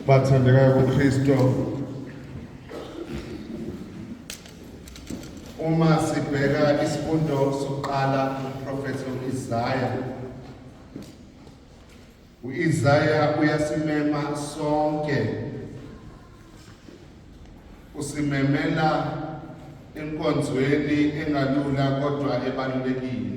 bathandekayo kuKristu uma sibheka isifundo sokuqala uprofethi uIsaya uIsaya uyasimema sonke usimemela enkonzweni engalula kodwa ebalulekile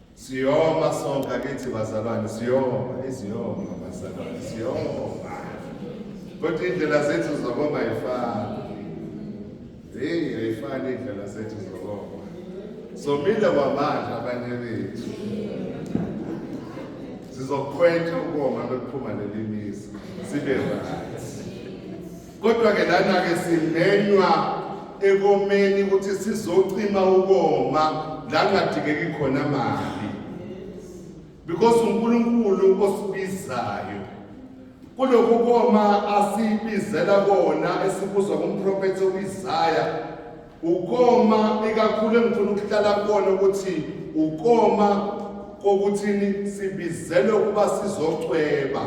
Siyoma sonke kithi bazalwane siyoma iziyoma bazalwane siyoma. Kodwa indlela zethu zokoma ayifani. Hey ayifani indlela zethu zokoma. Somile kwamanje abanye bethu. Sizokhwetha ukoma lokuphuma lelimizi sibe right. Kodwa-ke lana-ke simenywa ekomeni ukuthi sizocima ukoma la kungadingeki khona mali because uNkulunkulu osibizayo kulokhu koma asibizela kona esibuzwa kumprofethi uIsaya ukoma ikakhulu engifuna ukuhlala kona ukuthi ukoma kokuthini sibizelwe ukuba sizocweba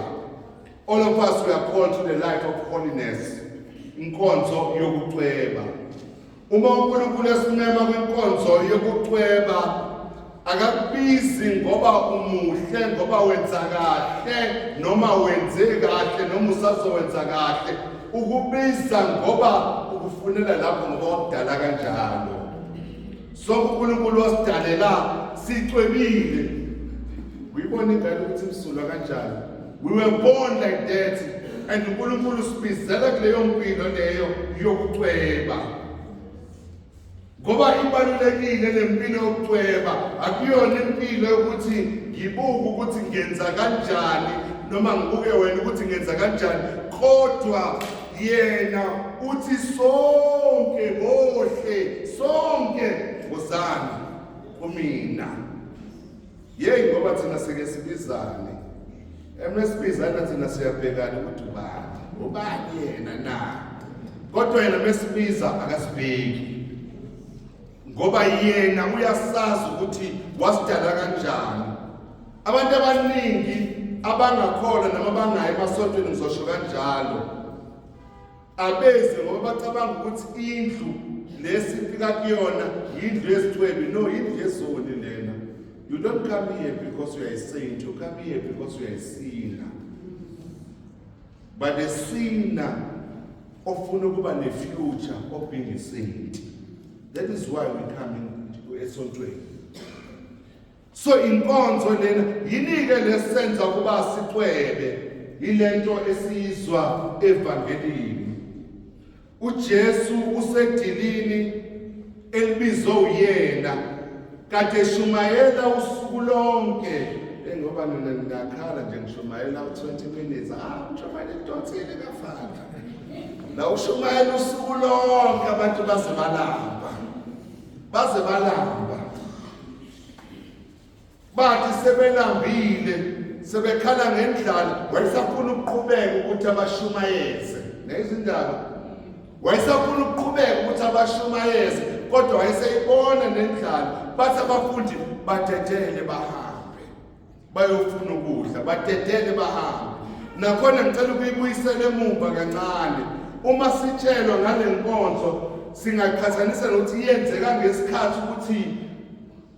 All of us we are called to the life of holiness. Inkonzo yokucweba. Uma uNkulunkulu esimema kwinkonzo yokucweba akakubizi ngoba umuhle ngoba wenza kahle noma wenze kahle noma usazowenza kahle ukubiza ngoba ukufunela lapho ngoba wakudala kanjalo Sonke uNkulunkulu wasidalela sicwebile. Uyibona ingane ukuthi imsulwa kanjani. We were born like that and uNkulunkulu sibizela kuleyo mpilo leyo yokucweba. Ngoba ibalulekile lempilo yokucweba akuyona impilo yokuthi ngibuke ukuthi ngenza kanjani noma ngibuke wena ukuthi ngenza kanjani kodwa yena uthi sonke bohle sonke wozani kumina yeyi ngoba thina sike sibizane emesibizana thina siyabhekana ukuthi ubani ubani yena na kodwa yena mesibiza akasibheki ngoba yena uyasazi ukuthi wasidala kanjani abantu abaningi abangakholwa noma bangayi emasontweni ngizosho kanjalo abeze ngoba bacabanga ukuthi indlu lesifika kuyona yindlu yesithwebi no yindlu yezoni lena you don't come here because you are a saint you come here because you are a sinner but a sinner ofuna ukuba ne-future of being a saint that is why we come esontweni so inkonzo lena yinike lesenza ukuba sicwebe yilento esiyizwa evangelini uJesu usedilini elibizwe uyena kade shumayela usuku lonke engoba nina ngakhala nje ngishumayela u20 minutes ah ngishumayela idonsile kafana la ushumayela usuku lonke abantu baze balamba baze balamba bathi sebelambile sebekhala ngendlala wayesafuna ukuqhubeka ukuthi abashumayeze nezindaba wayesafuna ukuqhubeka ukuthi abashumayeze kodwa wayeseyibona nendlala bathi abafundi badedele bahambe bayofuna ukudla batetele bahambe nakhona ngicela ukuyibuyisela emuva kancane uma sitshelwa ngale nkonzo singaqhathanisa nokuthi yenzeka ngesikhathi ukuthi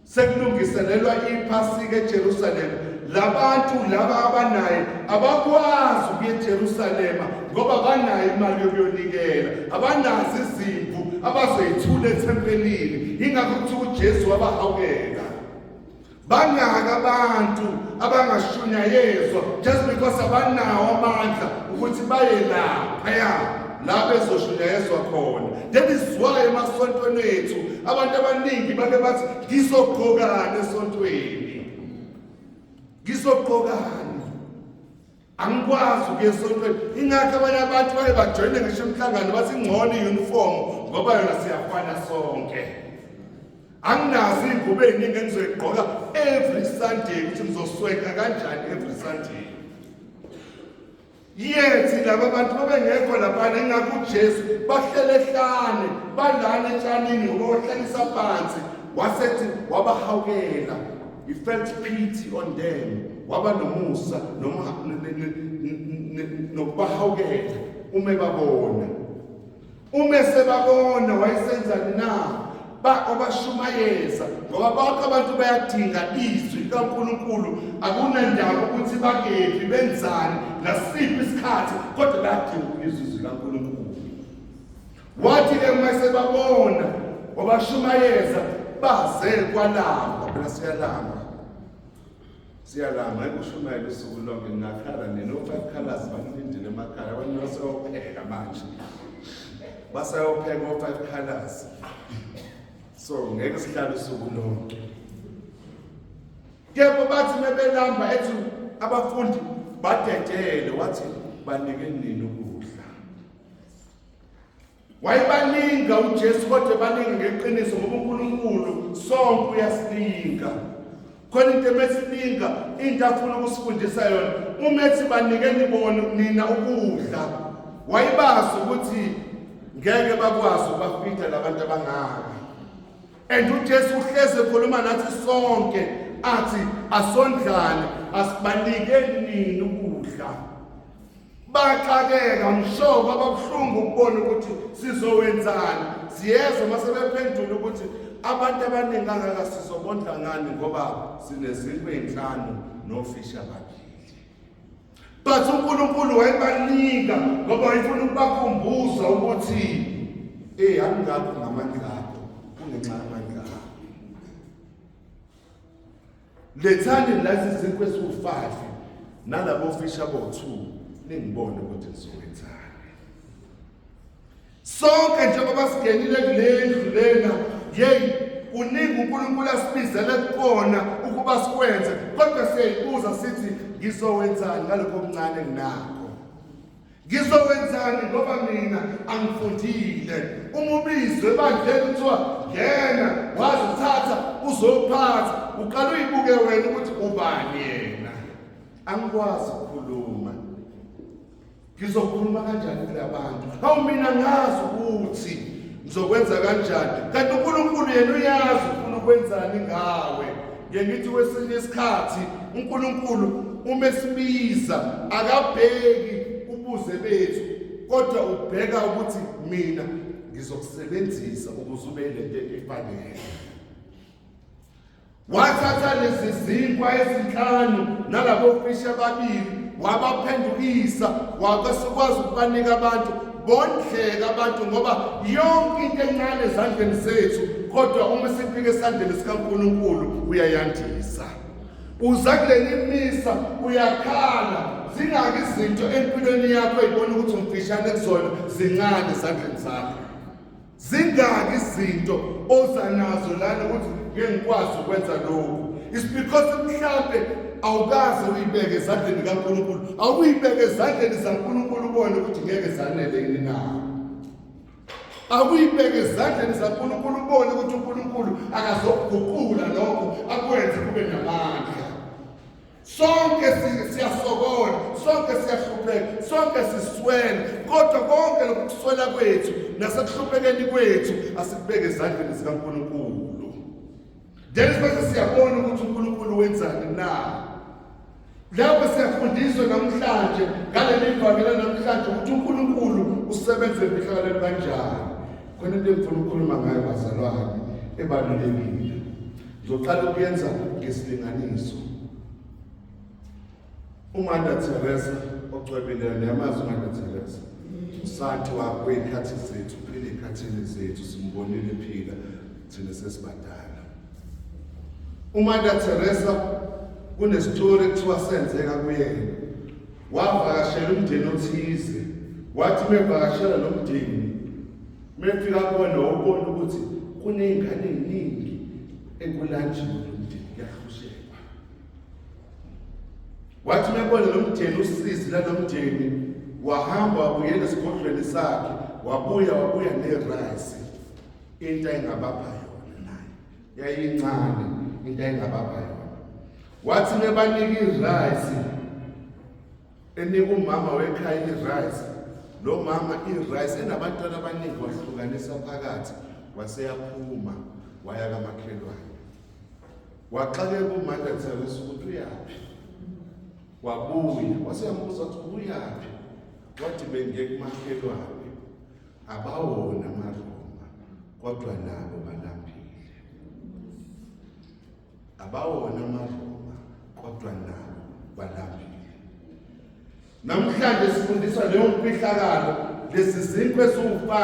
sekulungiselelwa iphasika eJerusalema labantu laba abanaye abakwazi ukuya eJerusalema ngoba banayo imali yokuyonikela abanazi izimvu abazoyithula ethempelini ingakho kuthiwa uJesu wabahawukela bangaki abantu abangashunyayezwa just because abanawo amandla ukuthi baye laphaya la bezoshunyayezwa khona that is why emasontweni ethu abantu abaningi bake bathi ngizogqokani esontweni ngizogqokani angikwazi ukuya esontweni ingakho abanye abantu baye bajoyine ngisho umhlangano bathi ingcono i-uniform ngoba yona siyafana sonke anginazo iy'ngubo ey'ningi engizoyigqoka every sunday ukuthi ngizoswenka kanjani every sunday yethi laba bantu babengekho laphana ingakho ujesu bahlele hlane balana etshanini ngoba wahlekisa phansi wasethi wabahawukela He felt pity on them. Waba nomusa noma nokubahawukela uma babona. Uma sebabona wayesenzani na? Ba obashumayeza ngoba bonke abantu bayadinga izwi likaNkulunkulu akunandaba ukuthi bakephi benzani ngasiphi isikhathi kodwa bayadinga izwi likaNkulunkulu Wathi-ke uma sebabona wabashumayeza baze kwalamba phela siyalamba siyalamba ekushumayela usuku lonke ngingakhala nina ofayikhalazi banilindile emakhaya abantu basayopheka manje basayopheka o-five colors so ngeke sihlale usuku lonke kepha bathi mebelamba ethi abafundi badedele wathi banike nini ukudla wayebalinga uJesu kodwa ebalinga ngeqiniso ngoba uNkulunkulu sonke uyasilinga khona into emesilinga into afuna ukusifundisa yona uma ethi banike nibone nina ukudla wayebazi ukuthi ngeke bakwazi ukubafitha labantu abangaka and uJesu uhleze ekhuluma nathi sonke athi asondlane asibanike nini ukudla baxakeka mhlobo ababuhlungu ukubona ukuthi sizowenzani siyezwa uma sebephendula ukuthi abantu abaningi kangaka sizobondla ngani ngoba sinezindlu ey'nhlanu nofisha babili but unkulunkulu wayebanika ngoba wayefuna ukubakhumbuza ukuthi eyi angingakho ngamandla akho kungenxa yamandla akho lethani lasi zinkwe esiwu-five nalabo fish abo-two ningibone ukuthi nizowenzani sonke njengoba singenile kule ndlu lena yeyi kuningi unkulunkulu asibizele kukona ukuba sikwenze kodwa siyayibuza sithi ngizowenzani ngalokho okuncane nginakho ngizowenzani ngoba mina angifundile uma ubizwe ebandleni kuthiwa ngena wazi uthatha uzophatha uqala uyibuke wena ukuthi ubani yena angikwazi ukukhuluma ngizokhuluma kanjani kulabantu hawu mina ngazi ukuthi ngizokwenza kanjani kanti unkulunkulu yena uyazi ufuna ukwenzani ngawe Ngithi wesinye isikhathi uNkulunkulu uma esibiza akabheki ubuze bethu kodwa ubheka ukuthi mina ngizokusebenzisa ukuze ube lento efanele wathatha lezi zinkwa ezinhlanu nalabo fishi ababili wabaphendukisa wakwasikwazi ukubanika abantu bondleka abantu ngoba yonke into encane ezandleni zethu kodwa uma sifike esandleni sikaNkulunkulu uyayandisa uza kuleli misa uyakhala zingaki izinto empilweni yakho eyibona ukuthi umfishane kuzona zincane esandleni sakho zingaki izinto oza nazo lana ukuthi ngeke ngikwazi ukwenza lokhu is because mhlampe awukaze uyibeke ezandleni kaNkulunkulu awuyibeke ezandleni zaNkulunkulu ubone ukuthi ngeke zanele yini na akuyibeke ezandleni zaNkulunkulu ubone ukuthi uNkulunkulu akazokuguqula lokho akwenze kube namandla Sonke siyasokola, sonke siyahlupheka, sonke siswela, kodwa konke lokhu kuswela kwethu nasekuhluphekeni kwethu asikubeke ezandleni zikaNkulunkulu. Then bese siyabona ukuthi uNkulunkulu wenzani na. Lapho siyafundiswa namhlanje ngaleli vangela namhlanje ukuthi uNkulunkulu usebenza emfihlakaleni kanjani. Khona into engifuna ukukhuluma ngayo bazalwane ebalulekile. Ngizoqala ukuyenza ngesilinganiso. UMother Teresa ocwebileyo niyamazi uMother Teresa. Usathi wakho ikhathi zethu, phile ikhathini zethu simbonile phila thina sesibadala. UMother Teresa kunestori ekuthiwa senzeka kuyena. Wavakashela umndeni othize. Wathi mevakashela lo mndeni Mefika kubona ubona ukuthi kuney'ngane ey'ningi ekulanjiwe lo mndeni kuyahluzekwa. Wathi mebona lo mndeni usizi lalo mndeni wahamba wabuyela esigodlweni sakhe wabuya wabuya nerayisi into ayingabapha yona naye yayincane into ayingabapha yona wathi nebanika irayisi enika umama wekhaya i-rice lo mama i-rice enabantwana abaningi wahlukanisa phakathi waseyaphuma waya kamakhelwane waxakeka umandla athelisa ukuthi uyaphi wabuya waseyambuza ukuthi ubuyaphi wathi bengiye kumakhelwane abawona amaroma kodwa nabo balambile Abawona amaRoma kodwa nabo balambile. Namhlanje sifundiswa leyo mfihlakalo lesi zinkwe esiwu-5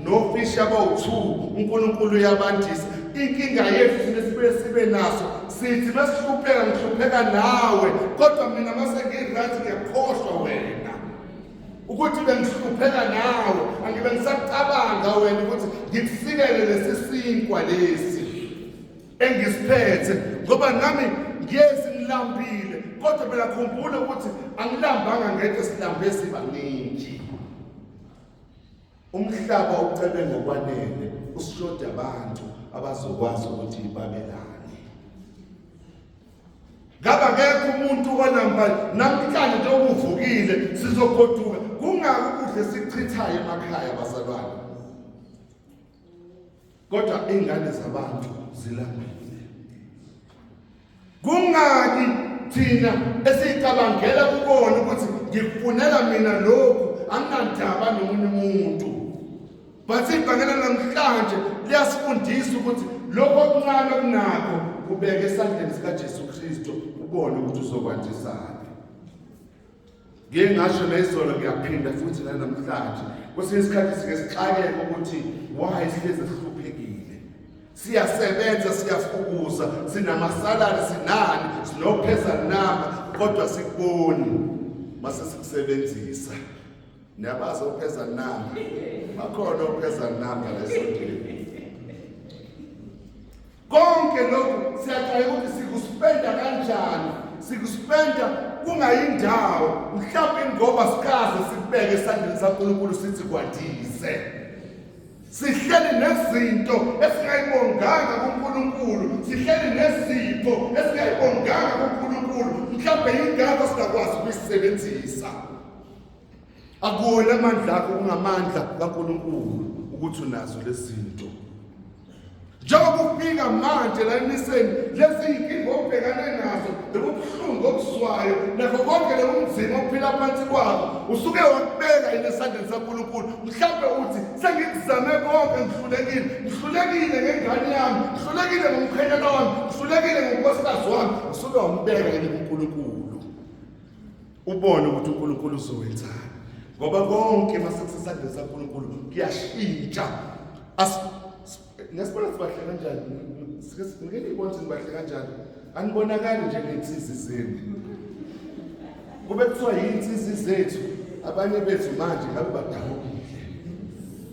nofisha abawu-2 uNkulunkulu uyabandisa inkinga yethu thina sibuye sibe naso sithi masihlupheka ngihlupheka nawe kodwa mina mase ngiright ngiyakhohlwa wena ukuthi bengihlupheka nawe angibe ngisacabanga wena ukuthi ngikusikele lesi sinkwa lesi engisiphethe ngoba nami ngiyezi ngilambile kodwa phela khumbula ukuthi angilambanga ngeke silambe sibaningi umhlaba ucebe ngokwanele usishoda abantu abazokwazi ukuthi babelane ngaba kekho umuntu onamba namhlanje nje ubuvukile sizogoduka kungaki ukudla esichithayo emakhaya bazalwane kodwa ingane zabantu zilambile kungaki thina esicabangela kubona ukuthi ngikufunela mina lokhu anginandaba nomunye umuntu but ibhangela namhlanje liyasifundisa ukuthi lokho okuncane kunakho kubeke esandleni sikaJesu Kristo ubone ukuthi uzokwandisana Ngike ngasho nezolo ngiyaphinda futhi nanamhlanje. Kwesinye isikhathi sike sixakeke ukuthi why sihlezi sihluphekile. Siyasebenza, siyafukuza, sinamasalari, sinani, sinopheza namba kodwa sikuboni mase sikusebenzisa. Niyabazi opheza namba. Bakhona opheza namba lesondini. konke lokhu siyajwayela ukuthi sikuspenda kanjani sikuspenda kungayindawo mhlawumbe ngoba sikaze sikubeke esandleni sankulunkulu sithi kwandise sihleli nezinto esingayibonganga kunkulunkulu sihleli nezipho esingayibonganga kunkulunkulu mhlawumbe yingakho singakwazi ukuyisebenzisa akuwona amandla akho kungamandla kaNkulunkulu ukuthi unazo lezinto njengoba ufika manje la emiseni lezi yinkinga obhekane nazo lobu buhlungu obuzwayo nakho konke lobu mzima ophila phansi kwabo usuke wakubeka yini esandleni sankulunkulu mhlawumbe uthi sengikuzame konke ngihlulekile ngihlulekile ngengane yami ngihlulekile ngomkhwenyana wami ngihlulekile ngonkosikazi wami usuke wambeka yini kunkulunkulu ubone ukuthi uNkulunkulu uzowenzani ngoba konke masekusesandleni saNkulunkulu kuyashintsha ngesibona sibahle kanjani ngeke nibone ukuthi nibahle kanjani anibonakali njengey'nsizi zenu kube kuthiwa yiy'nsizi zethu abanye bethu manje ngabe badabukile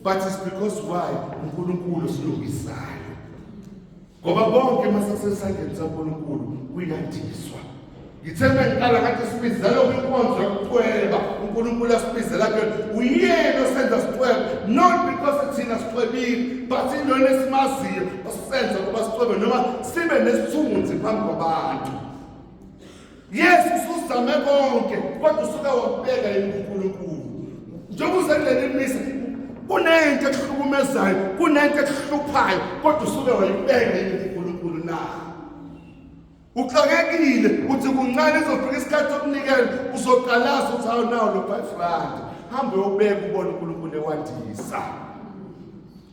but it's because why unkulunkulu silungisayo ngoba konke masasesandleni saNkulunkulu kuyandiswa ngithe mengiqala ngathi sibizela kwinkonzo yokucweba uNkulunkulu asibizela ke uyena osenza sicwebe not because thina sicwebile but indona esimaziyo osenza ukuba sicwebe noma sibe nesithunzi phambi kwabantu Yes, usuzame konke kodwa usuke wabeka yini uNkulunkulu. Njengoba usendleleni imisa kunento ekuhlukumezayo, kunento ekuhluphayo kodwa usuke wayibeka yini uNkulunkulu na? Uxakekile uthi kuncane izofika isikhathi sokunikela uzoqalaza uthi hawu nawo lo 5 rand. Hambe ubeke ubone uNkulunkulu ewandisa.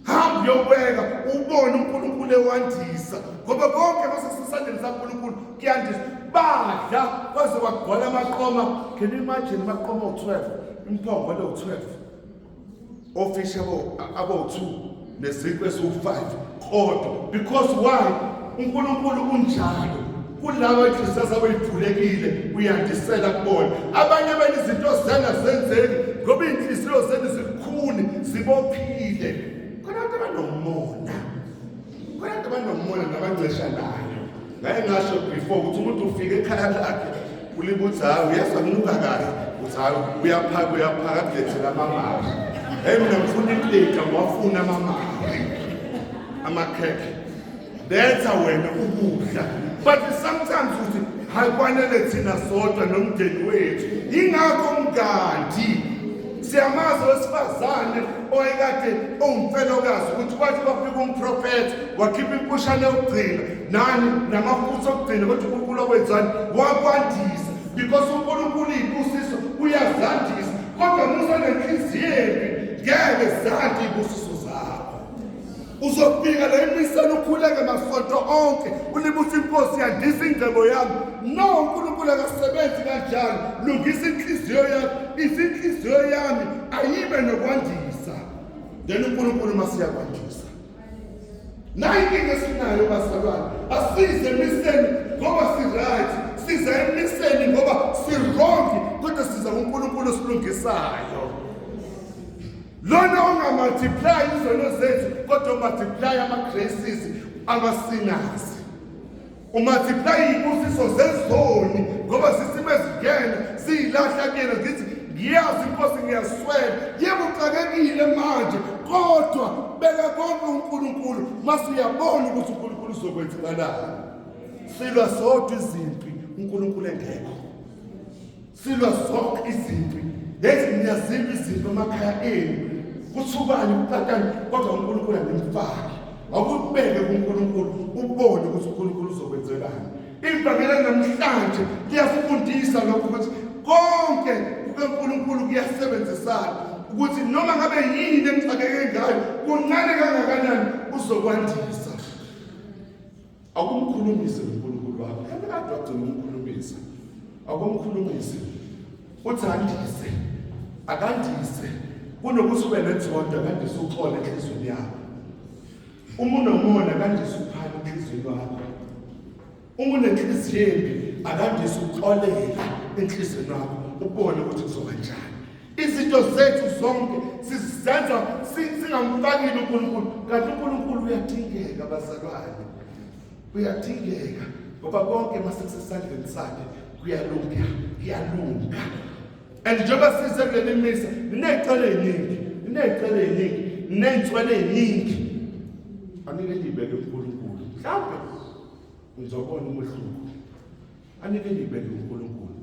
hamba uyobeka ubone unkulunkulu ewandisa ngoba konke nosesisandleni sankulunkulu kuyandisa badla kwaze kwagcwala amaqoma can you imagine amaqoma owu-12 imphongo lewu-12 ofisha abo-2 neziqu esiwu-5 kodwa because why unkulunkulu unjalo kulabo ikusasa kuyivulekile kuyandisela kubona abanye bena izinto zidanga zenzeki ngoba iy'nhliziyo zenu zikhuni zibophile khona abantu abanomona khona abantu abanomona nabangcesha nayo ngaye ngasho before ukuthi umuntu ufike ekhaya lakhe ulibuthi hayi uyezwa kunuka kahle uthi hayi uyaphaka uyaphaka kulethela amamali eyi mina ngifuna iplate ngiwafuna amamali amakhekhe Letha wena ukudla. But sometimes uthi hayi kwanele thina sodwa nomndeni wethu. Ingakho mngadi siyamazi owesifazane owayekade owumfelokazi ukuthi kwathi kwafika umprofethi wakhipha impushane yokugcina nani namafutha okugcina kodwa unkulunkulu okwenzani wakwandisa because unkulunkulu iy'busiso uyazandisa kodwa musa nenhliziyo embi ngeke zande iy'busiso uzofika la emiseni ukhuleke masonto onke ulibutha inkosi yandisa ingcebo yami no unkulunkulu akasebenzi kanjalo lungisa inhliziyo yami izinhliziyo yami ayibe nokwandisa then unkulunkulu masiyakwandisa nayi inkinga esinayo bazalwane asize emiseni ngoba si-right siza emiseni ngoba si-wrong kodwa siza kunkulunkulu osilungisayo lona ongamultiply izono zethu kodwa umultiply ama-graces amasinazi umultiply iy'busiso zezoni ngoba sisimo ezingena siyilahla kuyena zithi ngiyazi inkosi ngiyaswela yebo uxakekile manje kodwa beka konke unkulunkulu mase uyabona ukuthi unkulunkulu uzokwenzakalani silwa sodwa izimpi unkulunkulu engekho silwa zonke izimpi lezi niyazilwa izinto emakhaya enu kuthubani kutatani kodwa unkulunkulu andimfaki awukubeke kunkulunkulu ubone ukuthi unkulunkulu uzokwenzelani ivangela namhlanje liyafundisa lokho ukuthi konke kukankulunkulu kuyasebenzisana ukuthi noma ngabe yini emxakeke ngayo kuncane kangakanani uzokwandisa akumkhulumise uNkulunkulu wakho yena kade wagcina umkhulumisa akumkhulumise uthi andise akandise kunokuthi ube nethonda kandise uxole enhlizweni yakho uma unomona kandise uphana enhlizweni wakho uma unenhliziyo embi akandise uxolele enhlizweni yakho ubone ukuthi kuzoba njani izinto zethu zonke sizenza singamfakile uNkulunkulu kanti uNkulunkulu uyadingeka bazalwane uyadingeka ngoba konke masekusesandleni sakhe kuyalunga kuyalunga and njengoba size kuleli misa niney'cela ey'ningi niney'cela ey'ningi niney'nswele ey'ningi anike niyibeke unkulunkulu mhlawumbe ngizobona umehluko anike niyibeke unkulunkulu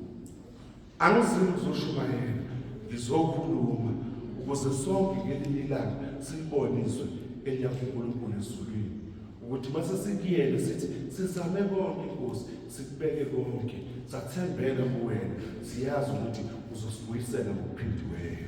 Angizimi ukuzoshumayela, ngizokhuluma ukuze sonke ngelinye ilanga silibone izwe eliya kuNkulunkulu ezulwini ukuthi mase sikuyele sithi sizame konke inkosi sikubeke konke sathembela kuwena siyazi ukuthi uzosibuyisela ngokuphindiweyo